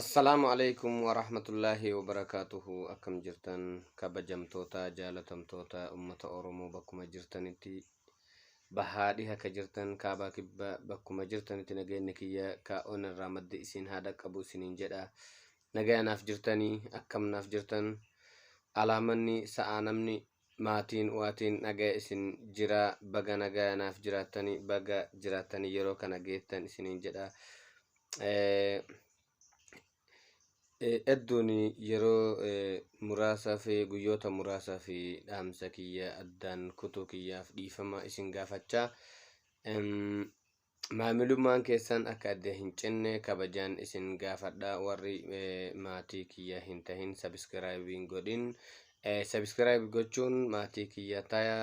Assalaamu alaikum wa rahmatullaahi wa barakaatuhu akkam jirtan kabajamtoota jaalatamtoota ummata Oromoo bakkuma jirtanitti bahaa dhiha ka jirtan kaabaa kibba bakkuma jirtanitti nageenyi kiyya ka onarraa madde isin haa dhaqqabu isiniin jedha nagaya naaf jirtanii akkam naaf jirtan alaamanni sa'aa namni Maatiin waatiin nagaya isin jira baga nagaya naaf jiraattani baga jiraattani yeroo kana geettan isiniin jedha edduun yeroo muraasaaf guyyoota muraasaaf dhaamsa kiyya addaan kutuu kiyyaaf dhiifama isin gaafachaa Maamilummaan keessan akka adda hin cinne kabajaan isin gaafadha warri maatii kiyya hin tahin sabiskiraayib hin godhin sabiskiraayib gochuun maatii kiyya taya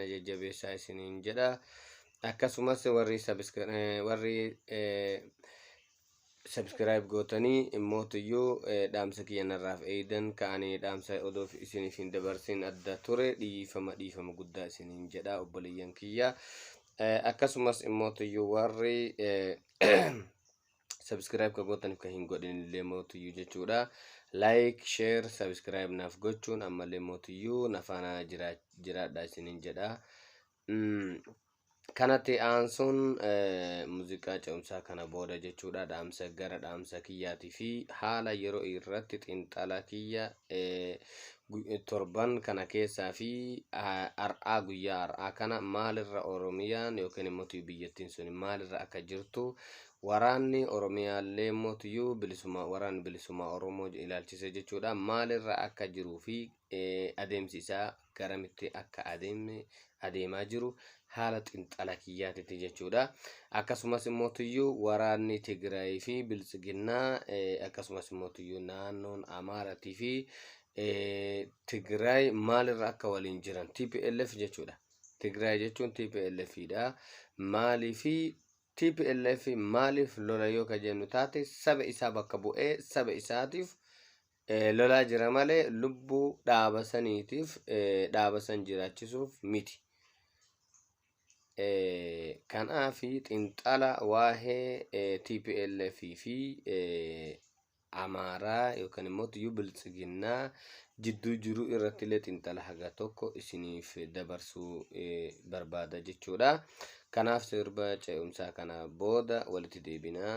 na jajjabeessaa isiniin jedha akkasumas warri sabiskiraayib warri subscribe gootanii mootuyyuu eh, dhaamsa kiyya narraaf eeydan ka ani dhaamsa odoo fi- isiniif hin dabarsin adda ture dhiifama dhiifama guddaa isiniin jedha obboleeyyan kiyya Eh, akkasumas immootuyyuu warri eh, subscribe ka gootaniif ka hin godhin illee mootuyyuu jechuudha like share subscribe naaf gochuun ammallee mootuyyuu nafaana jiraadha isiniin jedha Mm, Kanatti aansuun muuziqaa ce'umsaa kana booda jechuudha dhaamsa gara dhaamsa kiyyaatii fi haala yeroo irratti xiinxala kiyya torban kana keessaa fi har'aa guyyaa har'aa kana maalirra Oromiyaan yookiin immoo biyyattiin sun maalirra akka jirtu waraanni Oromiyaallee immoo tuyyuu bilisummaa waraanni bilisummaa Oromoo ilaalchisee jechuudha maalirra akka jiruu fi adeemsi isaa garamitti akka adeeme adeemaa jiru haala xinxala kiyyaatitti jechuudha. Akkasumas immoo tuyyuu waraanni Tigraayii fi Biltsiginnaa eh, akkasumas immoo tuyyuu naannoon Amaaratii fi eh, Tigraay maalirra akka waliin jiran TPLF jechuudha. Tigraay jechuun TPLF dha. Maalii fi TPLF maaliif lola yoo ka jennu taate saba isaa bakka bu'ee saba isaatiif Eh, lolaa jira malee lubbuu dhaaba saniitiif eh, dhaaba san jiraachisuuf miti. Eh, kanaafi xinxala waa'ee eh, TPLF fi eh, Amaaraa yookaan immoo tuyyuu biltsiginnaa jidduu jiru irratti illee xinxala haga tokko isiniif dabarsuu eh, barbaada jechuudha. Kanaaf sirba ce'umsaa kana booda walitti deebinaa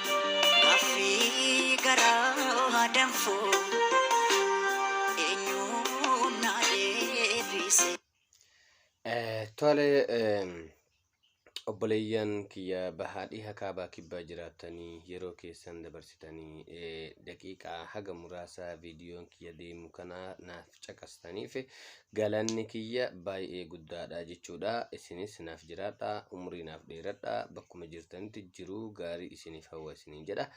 Gaaffii garaa danfu eenyuun na deebise? Tole obboleeyyan kiyya bahaa dhiha kaabaa kibbaa jiraattanii yeroo keessan dabarsitanii daqiiqaa haga muraasaa viidiyoon kiyya deemu kana naaf caqastaniif galanni kiyya baay'ee guddaadha jechuudha. Isinis naaf jiraadha, umrii naaf dheeradha, bakkuma jirtanitti jiruu gaarii isiniif hawwa isiniin jedha.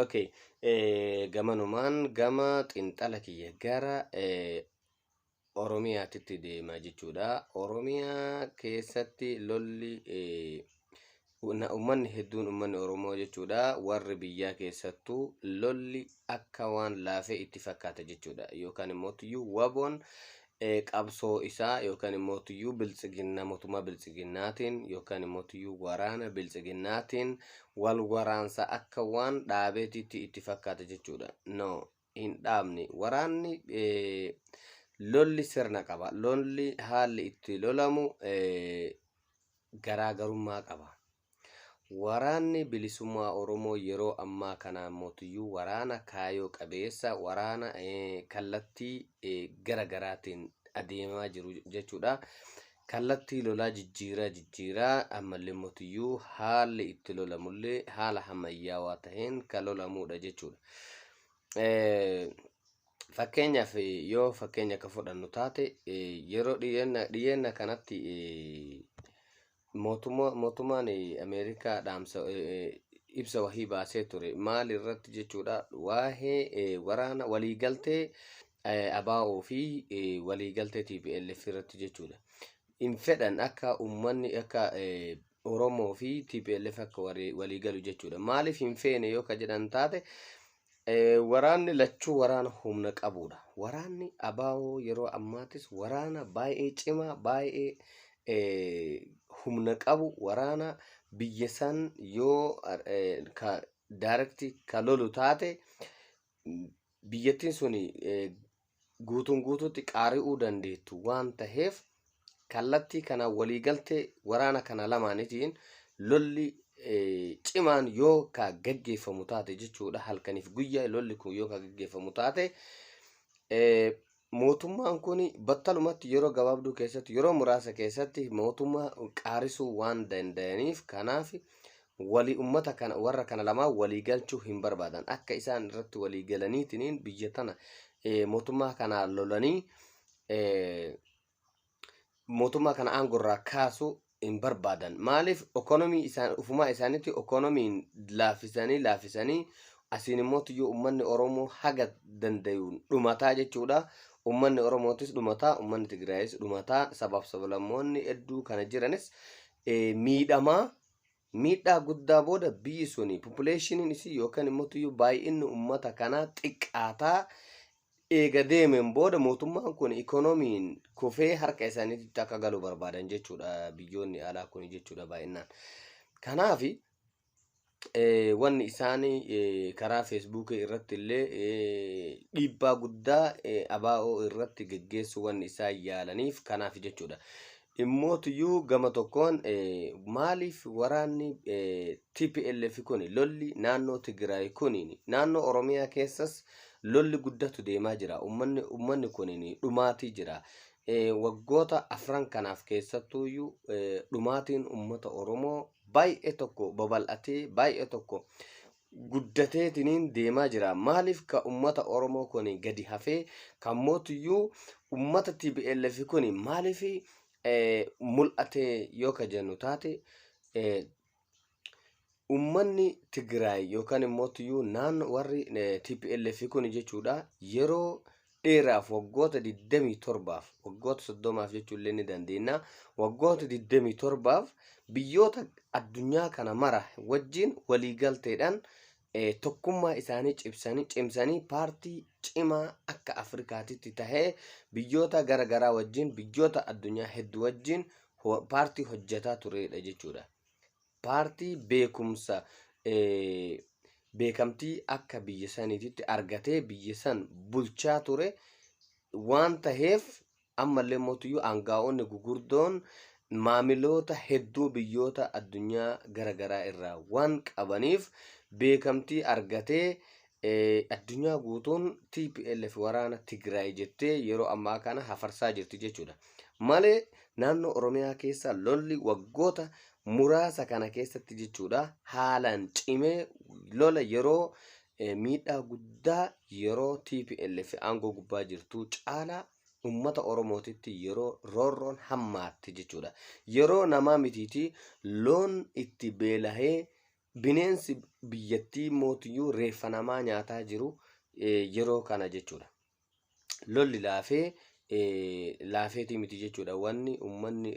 Okay. Eh, gamanumaan gama xinxala kiyya gara eh, Oromiyaatitti deema jechuudha. Oromiyaa keessatti lolli eh, Ummanni hedduun ummanni Oromoo jechuudha warri biyyaa keessattuu lolli akka waan laafee itti fakkaata jechuudha. Yookaan immootiyyuu waboon qabsoo isaa yookaan immootiyyuu biltsiginnaa mootummaa biltsiginnaatiin yookaan immootiyyuu waraana biltsiginnaatiin wal waraansa akka waan dhaabeetiitti itti fakkaata jechuudha. No hin dhaabne. Waraanni lolli sirna qaba. Lolli haalli itti lolamu garaagarummaa qaba. Waraanni bilisummaa Oromoo yeroo ammaa kanaa mootiyyuu waraana kaayoo qabeessa, waraana kallattii gara garaatiin adeemaa jiru jechuudha. Kallattii lolaa jijjiiraa jijjiiraa ammalleemmoo tuyyuu haalli itti lolamullee haala hammayyaawaa taheen kan lolamuudha jechuudha. Fakkeenyaaf yoo fakkeenya akka fudhannu taate yeroo dhiyeenna kanatti mootummaan Ameerikaa dhaamsa ibsa wahii baasee ture maal irratti jechuudha waa'ee waraana waliigaltee ABO fi waliigaltee tplf irratti jechuudha. Hin fedhan akka uummanni akka Oromoo fi tplf akka waliigalu jechuudha. Maaliif hin feene yoo ka jedhan taate waraanni lachuu waraana humna qabuudha. Waraanni ABO yeroo ammaattis waraana baay'ee cimaa baay'ee humna qabu waraana biyya san yoo ka daarekti ka lolu taate biyyattiin sun guutuun guutuutti qaari'uu dandeettu waan taheef kallattii kanaan waliigaltee waraana kana lamaanitiin lolli cimaan yoo ka gaggeeffamu taate jechuudha halkaniif guyyaa lolli kun yoo ka gaggeeffamu taate mootummaan kun battalumatti yeroo gabaabduu keessatti yeroo muraasa keessatti mootummaa qaarisuu waan danda'aniif kanaaf walii ummata kana warra kana lamaa walii galchuu hin barbaadan akka isaan irratti walii galaniitiin biyya tana mootummaa kanaa lolanii mootummaa kana aangoo irraa kaasu hin barbaadan. Maaliif ekonomii isaan ufumaa isaaniitti ekonomiin laaffisanii laaffisanii asiin immoo tuyyuu uummanni Oromoo haga dandayuun dhumataa jechuudha. Uummanni Oromootis dhumataa, uummanni Tigraayis dhumataa, sabaaf sablammoonni hedduu kana jiranis miidhamaa Miidhaa guddaa booda biyyi suni populeeshiniin isii yookaan immotuyyuu baay'inni ummata kanaa xiqqaataa eega deemeen booda mootummaan kun ikonomiin kufee harka isaaniititti akka galu barbaadan jechuudha biyyoonni alaa kun jechuudha baay'innaan. Kanaaf wanni isaan karaa feesbuukii irratti illee dhiibbaa guddaa abaa'oo irratti geggeessuu wanni isaan yaalaniif kanaaf jechuudha. Immootuyyuu gama tokkoon maaliif waraanni tplf kuni lolli naannoo Tigiraay kuniini naannoo Oromiyaa keessas lolli guddatu deemaa jira. Ummanni ummanni kuniini dhumaatii jira. Waggoota afran kanaaf keessattuuyyuu dhumaatiin ummata Oromoo baay'ee tokko babal'atee baay'ee tokko guddateetiniin deemaa jira. Maaliif ka ummata Oromoo kuni gadi hafee kan mootuyyuu ummata TPLF kuni maaliif eh, mul'ate yoo ka jennu taate eh, ummanni Tigraay yookaan immoo tuyyuu naannoo warri eh, TPLF kuni jechuudha yeroo dheeraaf waggoota 27f waggoota 30f jechuu illee ni dandeenya waggoota 27f biyyoota addunyaa kana mara wajjin waliigalteedhaan eh, tokkummaa isaanii cibsanii cimsanii paartii cimaa akka Afrikaatitti tahee biyyoota gara garaa wajjin biyyoota addunyaa hedduu wajjin ho- paartii hojjetaa turedha jechuudha. Paartii beekumsa beekamtii akka biyya saniititti argatee biyya san bulchaa ture waan taheef ammallee mootiyyuu aangaa'onni gugurdoon maamiloota hedduu biyyoota addunyaa gara garaa irraa waan qabaniif beekamtii argatee addunyaa guutuun TPLF waraana Tigraay jettee yeroo ammaa kana hafarsaa jirti jechuudha. Malee naannoo Oromiyaa keessa lolli waggoota muraasa kana keessatti jechuudha haalaan cimee lola yeroo eh, miidhaa guddaa yeroo TPLF aangoo gubbaa jirtu caalaa ummata Oromootitti yeroo roorroon hammaatte jechuudha. Yeroo namaa mitiitii loon itti beelahee Bineensi biyyattii immootiyyuu reeffa namaa nyaataa jiru yeroo kana jechuudha. Lolli laafee laafeetii miti jechuudha. Wanni ummanni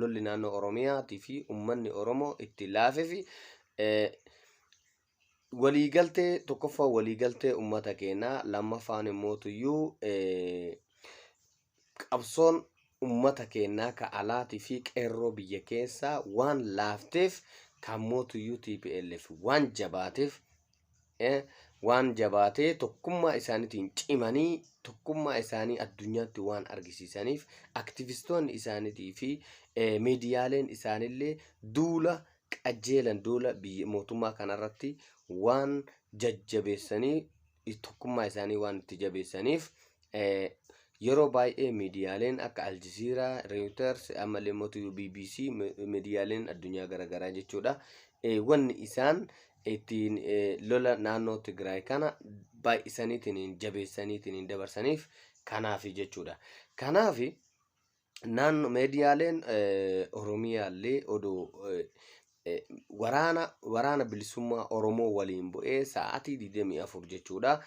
lolli naannoo Oromiyaatii fi ummanni Oromoo itti laafee fi waliigaltee tokkoffaa waliigaltee ummata keenyaa lammaffaan immootiyyuu Qabsoon ummata keennaa ka alaatii fi qeerroo biyya keessaa waan laafteef kan mootuyyuu tplf waan jabaateef waan jabaatee tokkummaa isaanitiin cimanii tokkummaa isaanii addunyaatti waan argisiisaniif aktivistoonni isaanitii fi miidiyaaleen isaanillee duula qajeelan duula mootummaa kanarratti waan jajjabeessanii tokkummaa isaanii waan itti jabeessaniif yeroo baay'ee miidiyaaleen akka Aljazeera, Reuters, ammallee mootuu BBC, miidiyaaleen addunyaa garaagaraa jechuudha. Wanni isaan ittiin lola naannoo Tigraay kana baay'isaniitiin jabeessaniitiin dabarsaniif kanaafi jechuudha. Kanaafi naannoo meediyaaleen Oromiyaallee odoo waraana waraana bilisummaa Oromoo waliin bu'ee sa'aatii 24 jechuudha.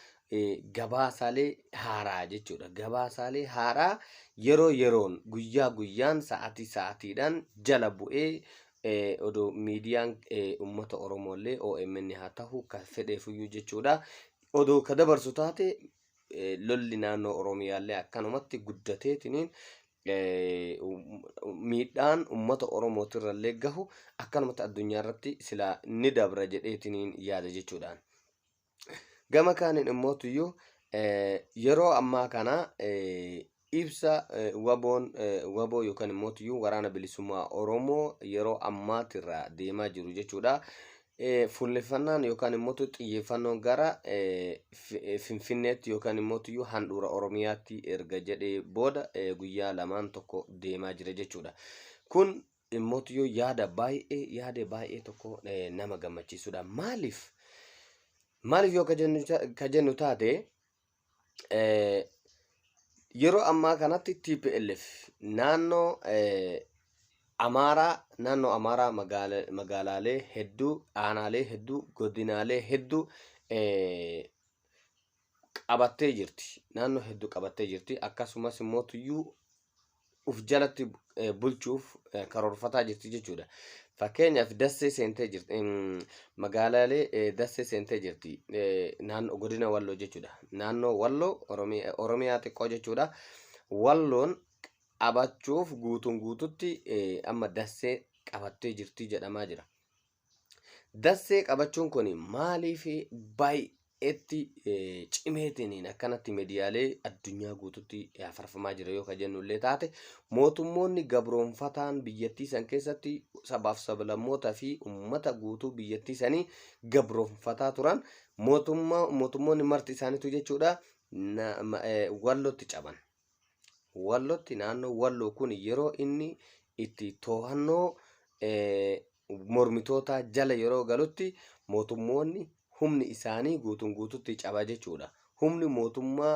Gabaasaalee haaraa jechuudha. Gabaasaalee haaraa yeroo yeroon guyyaa guyyaan sa'aatii sa'aatiidhaan jala bu'ee odoo miidiyaan uummata Oromoollee OMN haa ta'u kan fedheefuyyuu jechuudha. Odoo ka dabarsu taate lolli naannoo Oromiyaallee akkanumatti guddateetiniin miidhaan uummata Oromootirrallee gahu akkanumatti addunyaa irratti silaa ni dabra jedheetiniin yaada jechuudhaan. Gama kaaniin immootiyyuu yeroo ammaa kana Ibsa WBOn, wbo yookaan immoo tuyyuu Waraana Bilisummaa Oromoo yeroo ammaatirra deemaa jiru jechuudha. Fuulleffannaan yookaan immoo xiyyeeffannoon gara Finfinneetti yookaan immoo tuyyuu handhuura Oromiyaatti erga jedhee booda guyyaa lamaan tokko deemaa jira jechuudha. Kun immoo tuyyuu yaada baay'ee yaada baay'ee tokko nama gammachiisudha. Maaliif? Maaliif yoo ka jennu taate Eh, yeroo ammaa kanatti TPLF naannoo eh, Amaaraa naannoo Amaaraa magaala- magaalaalee hedduu, aanaalee hedduu, godinaalee hedduu eh, qabattee jirti. Naannoo hedduu qabattee jirti. Akkasumas immoo tuyyuu of jalatti eh, bulchuuf eh, karoorfataa jirti jechuudha. Fakkeenyaaf dassee seentee jirti. em, Magaalaalee eh, dassee seentee jirti. Eh, Naannoo godina Walloo jechuudha. Naannoo Walloo Oromiyaa Oromiyaa xiqqoo jechuudha. Walloon qabachuuf guutuun guututti eh, amma dassee qabattee jirti jedhamaa jira. Dassee qabachuun kun maaliif baay'eetti cimeetiin akkanatti miidiyaalee addunyaa guututti hafarfamaa jira yoo kan jennu illee taate mootummoonni gabroonfataan biyyattii san keessatti sabaaf sablammootaa fi uummata guutuu biyyattii sanii gabroonfataa turan mootummoonni marti isaaniitu jechuudha wallootti caban. Wallootti naannoo Walloo kun yeroo inni itti to'annoo mormitootaa jala yeroo galutti mootummoonni humni isaanii guutuun guututti caba jechuudha. Humni mootummaa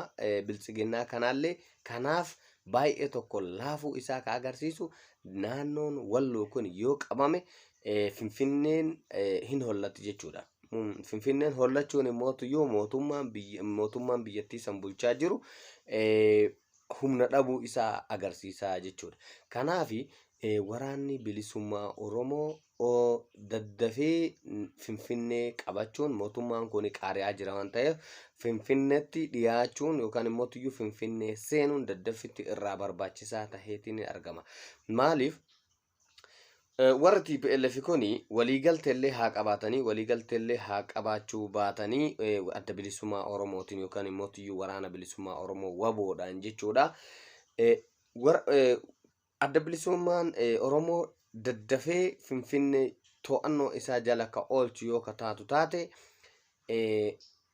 biltsiginnaa kanaallee kanaaf baay'ee tokko laafuu isaa ka agarsiisu naannoon Walloo kun yoo qabame Finfinneen hin hollatti jechuudha. Finfinneen hollachuun immoo tuyyuu mootummaan biyya mootummaan biyyattii san bulchaa jiru humna dhabuu isaa agarsiisaa jechuudha. Kanaaf waraanni bilisummaa Oromoo daddafee Finfinnee qabachuun mootummaan kun qaari'aa jira waan ta'eef Finfinneetti dhiyaachuun yookaan immoo tuyyuu Finfinnee seenuun daddaffitti irraa barbaachisaa ta'eetiin argama. Maaliif? Warri TPLF kun waliigalteellee haa qabaatanii waliigalteellee haa qabaachuu baatanii adda bilisummaa Oromootiin yookaan immoo tiyyuu waraana bilisummaa Oromoo waboodhaan jechuudha. Adda bilisummaan Oromoo daddafee Finfinnee to'annoo isaa jala ka oolchu yoo ka taatu taate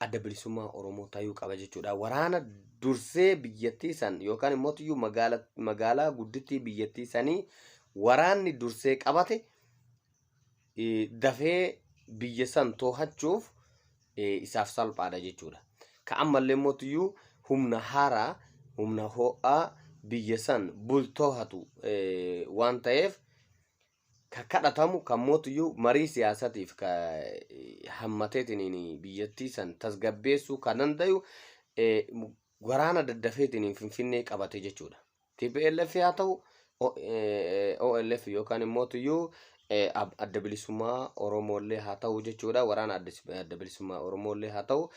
adda bilisummaa Oromoo tayuu qaba jechuudha. Waraana dursee biyyattii san yookaan immoo iyyuu magaala, magaalaa guddittii biyyattii sanii waraanni dursee qabate eh, dafee biyya san toohachuuf eh, isaaf salphaadha jechuudha. Ka ammallee immoo iyyuu humna haaraa, humna ho'aa biyya san bultoohatu eh, waan ta'eef ka kadhatamu kan mootuyyuu marii siyaasatiif ka hammateetiniin biyyattii san tasgabbeessuu kan danda'u waraana daddafeetiniin finfinnee qabate jechuudha. TPLF haa ta'u OLF yookaan immoo tuyyuu adda bilisummaa Oromoollee haa ta'u jechuudha. Waraana adda bilisummaa Oromoollee haa ta'u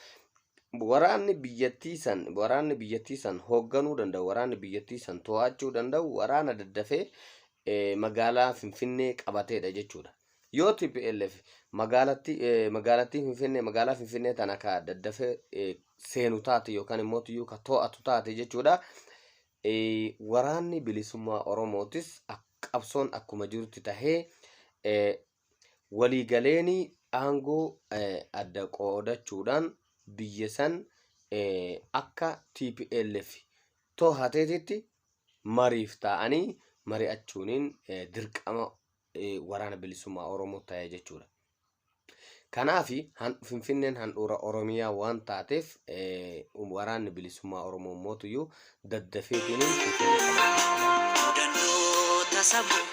waraanni biyyattii san waraanni biyyattii san hoogganuu danda'u waraanni biyyattii san to'achuu danda'u waraana daddafee magaalaa Finfinnee qabateedha jechuudha. Yoo TPLF magaalattii eh, magaalattii Finfinnee magaalaa Finfinnee tana ka daddafee eh, seenu taate yookaan immoo iyyuu ka to'atu taate jechuudha. Eh, Waraanni bilisummaa Oromootis ak- qabsoon akkuma jirutti tahee eh, waliigaleen aangoo eh, adda qoodachuudhaan biyya san eh, akka TPLF tohateetitti mariif taa'anii mari'achuuniin dirqama waraana bilisummaa Oromoo ta'e jechuudha. Kanaaf Finfinneen handhuura Oromiyaa waan taateef waraanni bilisummaa Oromoo mootuyyuu daddafeetiin Finfinnee kana.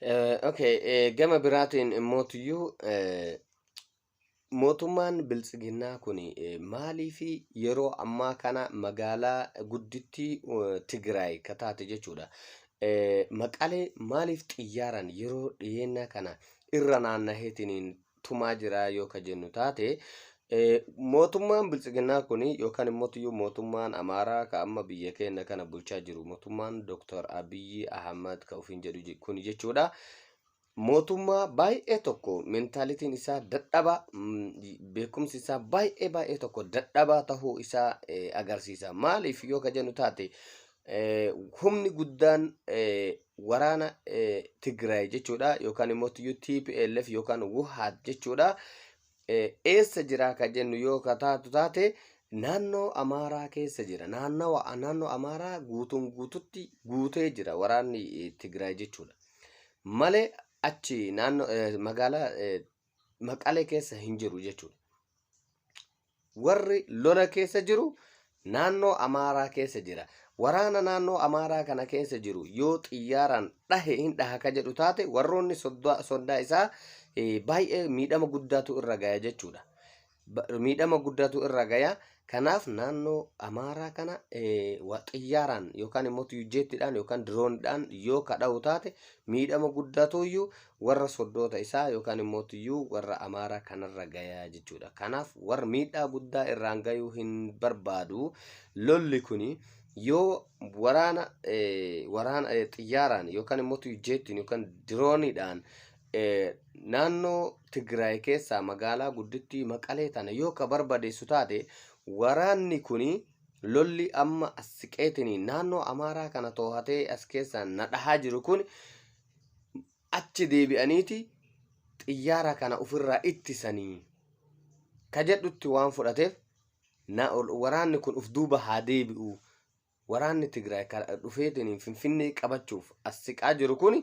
Eh, Okay, eh, gama biraatiin immootiyyuu eh, mootummaan biltsiginnaa kun maalii fi yeroo ammaa kana magaalaa guddittii eh, Tigraay ka taate jechuudha. Eh, Maqalee maaliif xiyyaaraan yeroo dhiyeennaa kana irra naannaheetiniin tumaa jira yoo ka jennu taate mootummaan biltsiginnaa kun yookaan immoo iyyuu mootummaan amaaraa ka amma biyya keenya kana bulchaa jiru mootummaan dooktar abiyyi ahmad ka ofiin jedhu kun jechuudha mootummaa baay'ee tokko mentaalitiin isaa dadhabaa beekumsi isaa baay'ee baay'ee tokko dadhabaa tahuu isaa agarsiisa maaliif yoo ka jennu taate humni guddaan waraana Tigraay jechuudha yookaan immoo TPLF yookaan Wuhaat jechuudha. Eessa jira kan jennu yoo taatu taate naannoo Amaaraa keessa jira. Naannawa naannoo Amaaraa guutuun guututti guutee jira waraanni Tigraay jechuudha. Malee achi naannoo magaalaa maqalee keessa hin jiru jechuudha. Warri lola keessa jiru naannoo Amaaraa keessa jira. Waraana naannoo Amaaraa kana keessa jiru yoo xiyyaaraan dhahe hin dhaha ka jedhu taate warroonni soddaa isaa baay'ee miidhama guddaatu irra gaya jechuudha. ba- miidhama guddaatu irra gaya. Kanaaf naannoo Amaaraa kana eh, wa- xiyyaaraan yookaan immoo tuujjeettiidhaan yookaan diroonidhaan yoo kadha'u taate miidhama guddaatu iyyuu warra soddoota isaa yookaan immoo iyyuu warra Amaaraa kanarra gaya jechuudha. Kanaaf warra miidhaa guddaa irraan gayuu hin barbaadu. Lolli kuni yoo waraana eh, waraana eh, xiyyaaraan yookaan immoo tuujjeettiin yookaan diroonidhaan Naannoo Tigraay keessaa magaalaa guddittii Maqalee tana yoo ka barbadeessu taate waraanni kuni lolli amma as siqeetini naannoo Amaaraa kana toohatee as keessaa na dhahaa jiru kun achi deebi'aniiti xiyyaara kana ofirraa ittisanii ka jedhutti waan fudhateef waraanni kun of duuba haa deebi'u waraanni Tigraay kan dhufeetiin Finfinnee qabachuuf as siqaa jiru kun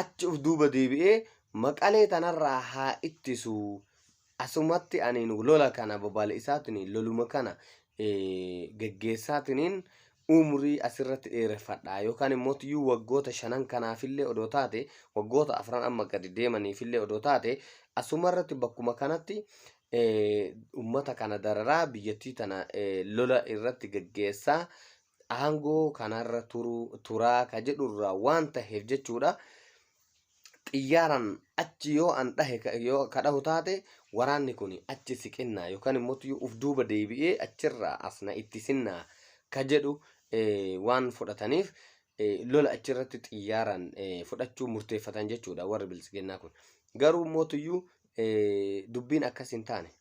achi of duuba deebi'ee maqalee tanarraa haa ittisu asumatti aniin lola kana babal'isaatiin loluma kana geggeessaatiin umrii asirratti dheereffadha yookaan immoo iyyuu waggoota shanan kanaafillee odoo taate waggoota afran amma gadi deemaniifillee odoo taate asumarratti bakkuma kanatti ummata kana dararaa biyyattii tana lola irratti gaggeessaa aangoo kanarra turaa ka jedhurraa waan taheef jechuudha. Xiyyaaran achi yoo an dhahe yoo ka dhahu taate waraanni kun achi siqinnaa yookaan immoo uf duuba deebi'ee achirraa asna itti sinnaa ka jedhu waan fudhataniif lola achirratti xiyyaaraan fudhachuu murteeffatan jechuudha warri biltsiginnaa kun. Garuu mootuyyuu dubbiin akkas hin taane.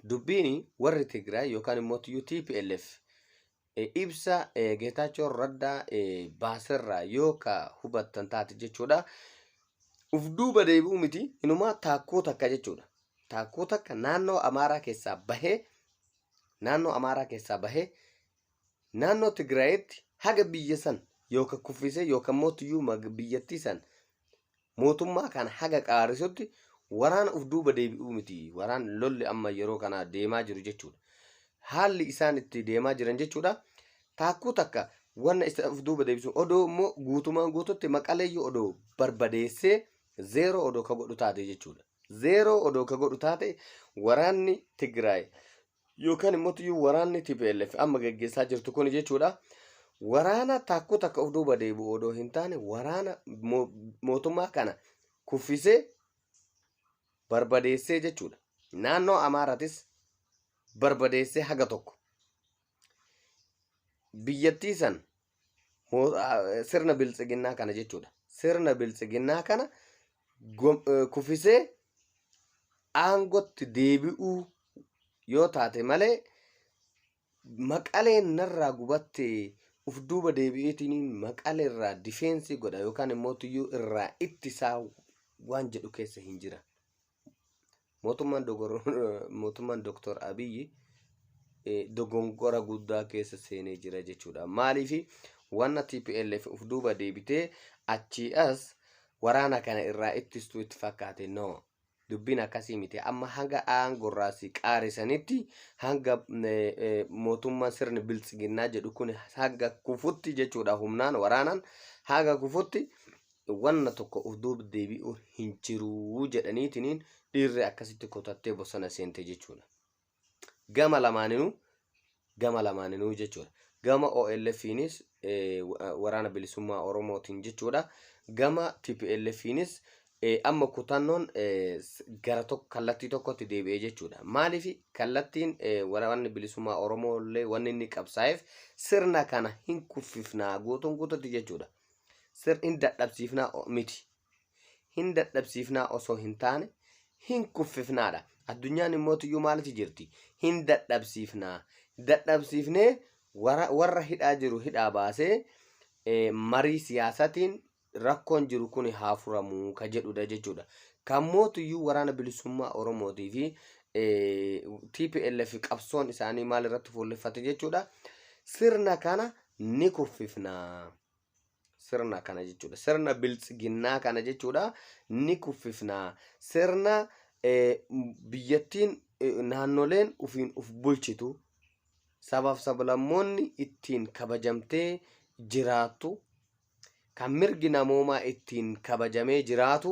Dubbiin warri Tigraay yookaan immoo TPLF ibsa Geetaachoo Raddaa baaserraa yoo ka hubattan taate jechuudha. Uf duuba deebi'uu miti inumaa taakkoo takka jechuudha. Taakkoo takka naannoo Amaaraa keessaa bahee naannoo Amaaraa keessaa bahee Naannoo Tigraayitti haga biyya san yooka kuffisee yooka immoo tuyyuuma biyyattii san mootummaa kana haga qaarisutti waraana uf duuba deebi'uu miti. Waraan lolli amma yeroo kana deemaa jiru jechuudha. Haalli isaan itti deemaa jiran jechuudha. Taakkuu takka wanna isa uf duuba deebisu odoo immoo guutumaan guututti maqaleeyyuu odoo barbadeessee zeeroo odoo ka godhu taate jechuudha. Zeeroo odoo ka godhu taate waraanni Tigraay yookaan immoo tuyyuu waraanni TPLF amma gaggeessaa jirtu kun jechuudha. Waraana taakkuu takka of duuba deebi'u odoo hin taane waraana mo- mootummaa kana kuffisee barbadeessee jechuudha. Naannoo Amaaratis barbadeessee haga tokko biyyattii san Mo- ah, Sirna biltsiginnaa kana jechuudha. Sirna biltsiginnaa kana gom- eh, kufisee aangotti deebi'uu yoo taate malee maqaleen narraa gubatte uf duuba deebi'eetiin maqalee irraa difeensii godha yookaan immoo tuyyuu irraa ittisaa waan jedhu keessa hin jira. Mootummaan dogor- mootummaan Dooktor Abiyyi eh, dogongora guddaa keessa seenee jira jechuudha. Maaliif wanna TPLF of duuba deebitee achii as waraana kana irraa ittistuu itti fakkaate no. Dubbiin akkasii miti. Amma hanga aangorraa si qaarisanitti hanga eh, eh, mootummaan sirni biltsiginnaa jedhu kun hanga kufutti jechuudha humnaan waraanaan hanga kufutti wanna tokko of duuba deebi'u hin jiruu jedhaniitiniin dhiirri akkasitti kutattee bosona seente jechuudha. Gama lamaaninuu gama lamaaninuu jechuudha. Gama OLFiinis waraana bilisummaa Oromootiin jechuudha. Gama TPLFiinis amma kutannoon gara tokko kallattii tokkotti deebi'ee jechuudha. Maaliif kallattiin waraanni bilisummaa Oromoo illee wanni inni qabsaa'eef sirna kana hin kuffifnaa guutuun guututti jechuudha. Sir in dadhabsiifnaa o- miti. Hin dadhabsiifnaa osoo hin taane hin kuffifnaadha. Addunyaan immoo tuyyuu maalitti jirti? Hin dadhabsiifnaa. Dadhabsiifnee warra, warra hidhaa jiru hidhaa baasee eh, marii siyaasatiin rakkoon jiru kun haa furamu ka jedhudha jechuudha. Kan mootuyyuu waraana bilisummaa Oromootii fi eh, TPLF qabsoon isaanii maal irratti fuulleffate jechuudha. Sirna kana ni kuffifna. Sirna kana jechuudha. Sirna biltsiginnaa kana jechuudha ni kuffifna. Sirna biyyattiin naannoleen ufiin uf bulchitu sabaaf sablammoonni ittiin kabajamtee jiraattu kan mirgi namoomaa ittiin kabajamee jiraatu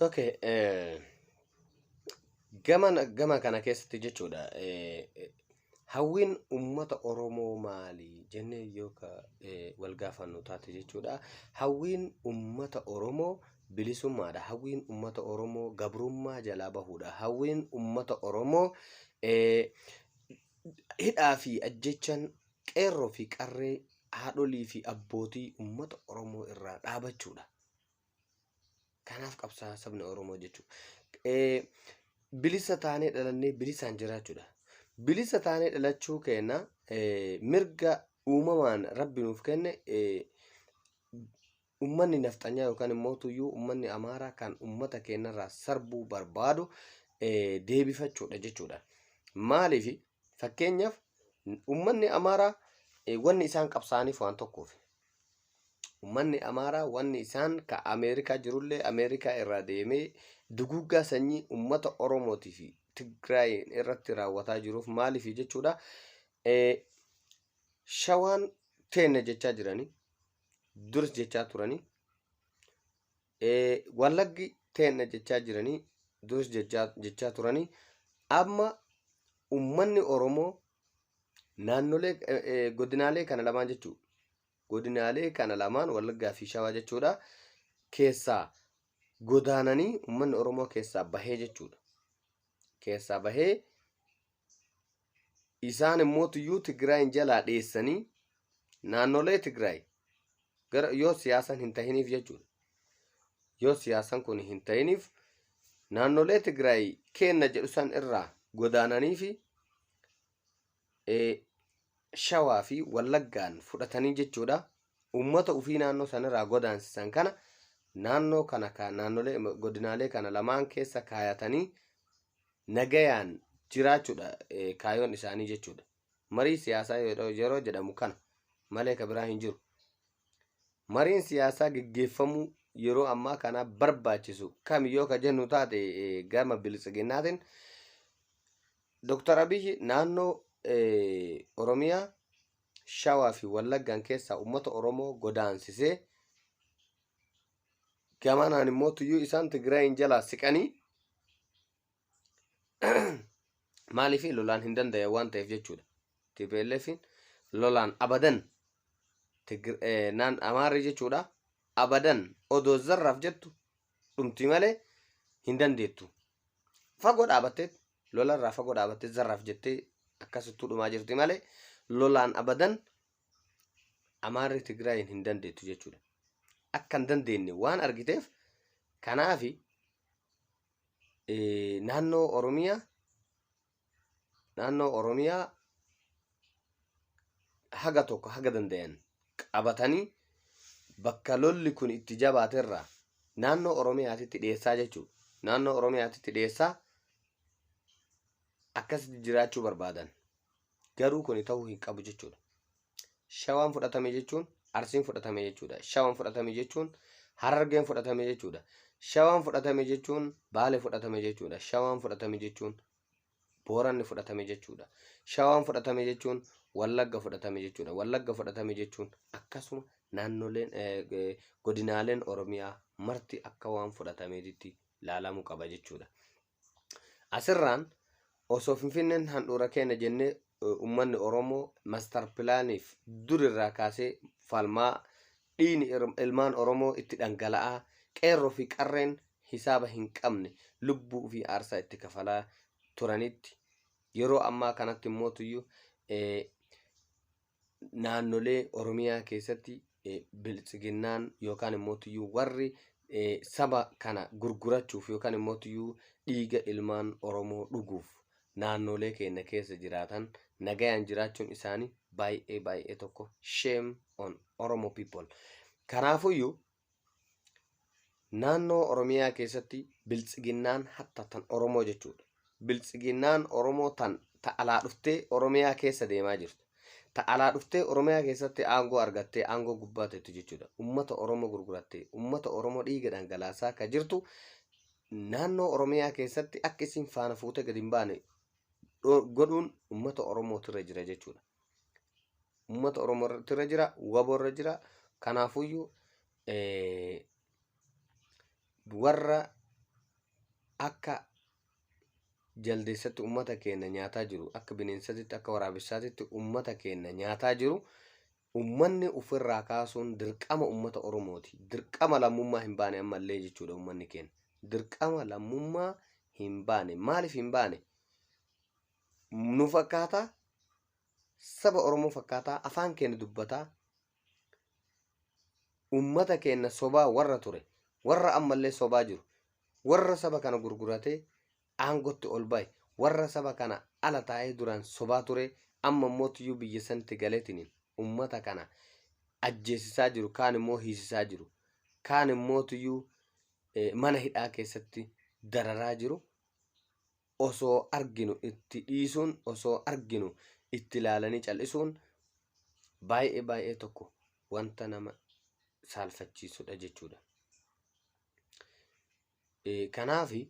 Okay, eh, gama gama kana keessatti jechuudha eh, eh, hawwiin uummata Oromoo maali jennee yoo ka eh, wal gaafannu taate jechuudha hawwiin uummata Oromoo bilisummaadha hawwiin uummata Oromoo gabrummaa jalaa bahuudha hawwiin uummata Oromoo eh, hidhaa fi ajjechan qeerroo fi qarree haadholii fi abbootii uummata Oromoo irraa dhaabachuudha. Kanaaf qabsaa sabni Oromoo jechuudha. Eh, Bilisa taanee dhalannee bilisaan jiraachuudha. Bilisa taanee dhalachuu keenya eh, mirga uumamaan rabbi nuuf kenne eh, ummanni nafxanyaa yookaan immoo tuyyuu ummanni amaaraa kan ummata keenyarraa sarbuu barbaadu eh, deebifachuudha jechuudha. Maaliif fakkeenyaaf ummanni amaaraa eh, wanni isaan qabsaaniif waan tokkoof Ummanni Amaaraa wanni isaan ka Ameerikaa jirullee Ameerikaa irraa deemee duguuggaa sanyii ummata Oromootii fi Tigraayiin irratti raawwataa jiruuf maaliif jechuudha shawaan teenna jechaa jiranii duris jechaa turanii Wallaggi teenna jechaa jiranii duris jechaa turanii amma ummanni Oromoo naannolee godinaalee kana lamaan jechuu godinaalee kana lamaan Wallaggaa fi Shawaa jechuudha keessaa godaananii ummanni Oromoo keessaa bahee jechuudha. Keessaa bahee isaan immoo tuyyuu Tigraayin jalaa dheessanii naannolee Tigraay gara yoo siyaasan hin tahiniif jechuudha. Yoo siyaasan kun hin tahiniif naannolee Tigraay keenna jedhu san irraa godaananii fi shawaa fi wallaggaan fudhatanii jechuudha. Uummata ofii naannoo sanirraa godaansisan kana naannoo kana naannolee godinaalee kana lamaan keessa kaayatanii nagayaan jiraachuudha kaayoon isaanii jechuudha. Marii siyaasaa yeroo jedhamu kana malee ka biraa hin jiru. Mariin siyaasaa geggeeffamuu yeroo ammaa kana barbaachisu kami yoo ka jennu taate gama biltsiginnaatiin Dr. Abiyyi naannoo Oromiyaa Shawaa fi Wallaggaan keessaa uummata Oromoo godaansisee gamanaan immoo tuyyuu isaan Tigraayin jalaa siqanii maaliif lolaan hin danda'e waan ta'eef jechuudha. TPLF lolaan abadan Tigr- eh, naan Amaarri jechuudha abadan odoo zarraaf jettu dhumti malee hin dandeettu. Fagoo dhaabattee lolarraa fagoo dhaabattee zarraaf jettee akkasittuu dhumaa jirti malee lolaan abadan Amaarri Tigraayin hin dandeettu jechuudha. Akka hin dandeenye waan argiteef kanaaf naannoo Oromiyaa naannoo Oromiyaa haga tokko haga dandayan qabatanii bakka lolli kun itti jabaaterraa naannoo Oromiyaatitti dhiyeessaa jechuudha. Naannoo Oromiyaatitti dhiyeessaa akkasitti jiraachuu barbaadan. Garuu kuni ta'uu hin qabu jechuudha. Shawaan fudhatame jechuun Arsiin fudhatame jechuudha. Shawaan fudhatame jechuun Harargeen fudhatame jechuudha. Shawaan fudhatame jechuun Baale fudhatame jechuudha. Shawaan fudhatame jechuun Booranni fudhatame jechuudha. Shawaan fudhatame jechuun Wallagga fudhatame jechuudha. Wallagga fudhatame jechuun akkasuma naannoleen godinaaleen Oromiyaa marti akka waan fudhatameetitti laalamuu qaba jechuudha. Asirraan osoo Finfinneen handhuura keenya jennee ummanni Oromoo mastar pilaaniif dur irraa kaasee falmaa dhiini ilmaan Oromoo itti dhangala'aa qeerroo fi qarreen hisaaba hin qabne lubbuu fi aarsaa itti kafalaa turanitti yeroo ammaa kanatti immoo tuyyu naannolee Oromiyaa keessatti biltsiginnaan yookaan immoo tuyyuu warri saba kana gurgurachuuf yookaan immoo tuyyuu dhiiga ilmaan Oromoo dhuguuf naannolee keenya keessa jiraatan nagayaan jiraachuun isaanii baay'ee baay'ee tokko shame on Oromo people. Kanaafuyyuu Naannoo Oromiyaa keessatti biltsiginnaan hatta tan Oromoo jechuudha. Biltsiginnaan Oromoo tan ta alaa dhuftee Oromiyaa keessa deemaa jirtu. Ta alaa dhuftee Oromiyaa keessatti aangoo argattee aangoo gubbaa teettu jechuudha. Ummata Oromoo gurgurattee, ummata Oromoo dhiiga dhangalaasaa ka jirtu naannoo Oromiyaa keessatti akka isin faana fuutee gadi hin baane godhuun ummata Oromootirra jira jechuudha. Uummata Oromoo irratti irra jira, wabo irra jira. Kanaafuyyuu eh, warra akka jaldeessatti uummata keenya nyaataa jiru, akka bineensatitti, akka waraabessaatitti uummata keenya nyaataa jiru, uummanni ofirraa kaasuun dirqama uummata Oromooti. Dirqama lammummaa hin baane ammallee jechuudha uummanni keenya. Dirqama lammummaa hin baane. Maaliif hin baane? nu fakkaataa saba Oromoo fakkaataa afaan keenya dubbataa ummata keenya sobaa warra ture warra ammallee sobaa jiru warra saba kana gurguratee aangotti ol ba'e warra saba kana ala taa'ee duraan sobaa ture amma immoo tiyyuu biyya sanatti galeetiniin ummata kana ajjeesisaa jiru kaan immoo hiisisaa jiru kaan immoo tiyyuu eh, mana hidhaa keessatti dararaa jiru osoo arginu itti dhiisuun osoo arginu itti ilaalanii cal'isuun baay'ee baay'ee tokko wanta nama saalfachiisudha jechuudha. Kanaaf